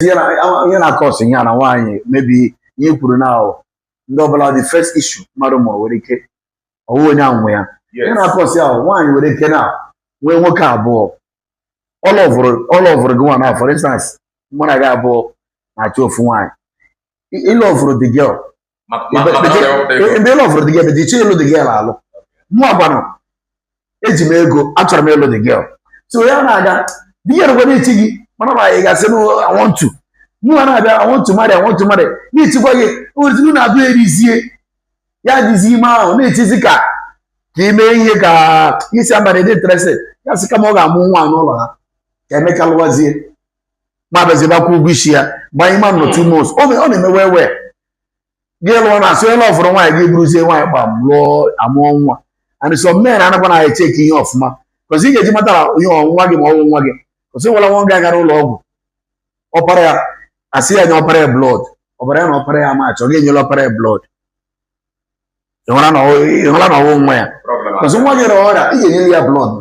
ihe na-acause ihe na nwaanyị maybe ihe kwuru na ahụ ndị ọbụla the first issue mmadụ mụrụ nwere ike ọwụ onye nwe ya ihe na-acause ahụ nwaanyị nwere ike na nwee nwoke abụọ ọlọvụrụ gị nwa now for instance mụ na gị abụọ na-achọ ofu nwaanyị ịlọvụrụ the girl ebe ịlọvụrụ the girl ebe dị iche ịlụ the girl alụ mụ agwanụ eji m ego achọrọ m ịlụ the girl so ya na-aga the girl kwara ichi gị mana ma anyị gasị na I want to mụ ha na-abịa I want to marry I want to marry na-echikwa gị ozigbo na-abụ erizie ya dịzi ime ahụ na-echizi ka ka ime ihe ka isi amara dị interested ya sị kama ọ ga-amụ nwa n'ụlọ ha ka emeka lụwazie ma bịazi bịa kwụọ ụgwọ isi ya gbanye ma nọ two months ọ na-emewe ewe gị lụọ na asị onye lọvụrụ nwaanyị ga-abụrụzie nwaanyị gba m lụọ amụọ nwa and some men anakwa na echeki ihe ọfụma cos ị ga-eji mata ihe ọ nwa gị ma ọwụ nwa gị cos e nwere nwoke gara ụlọ ọgwụ ọpara ya asị ya nye ọpara ya blood ọbara ya na ọpara ya match ọ ga-enyela ọpara ya blood ịhụla na ọwụ nwa ya cos nwa gị rịa ọrịa ị ga-enyere ya blood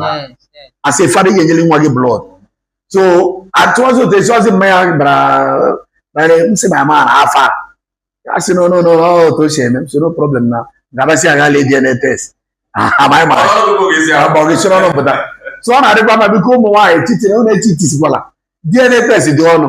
as a father ị ga-enyere nwa gị blood so atụọzi ụtọ esi ọzi mmanya bara bare m sị na ama na afọ a a sị no no no ọ otu o si eme m sị no problem na gabasị aga lee DNA test amaghị mara agbọgịsịrị ọnụ pụta so ọ na-adịkwa mma biko ụmụ nwaanyị titiri ụlọ etitisikwala DNA test dị ọnụ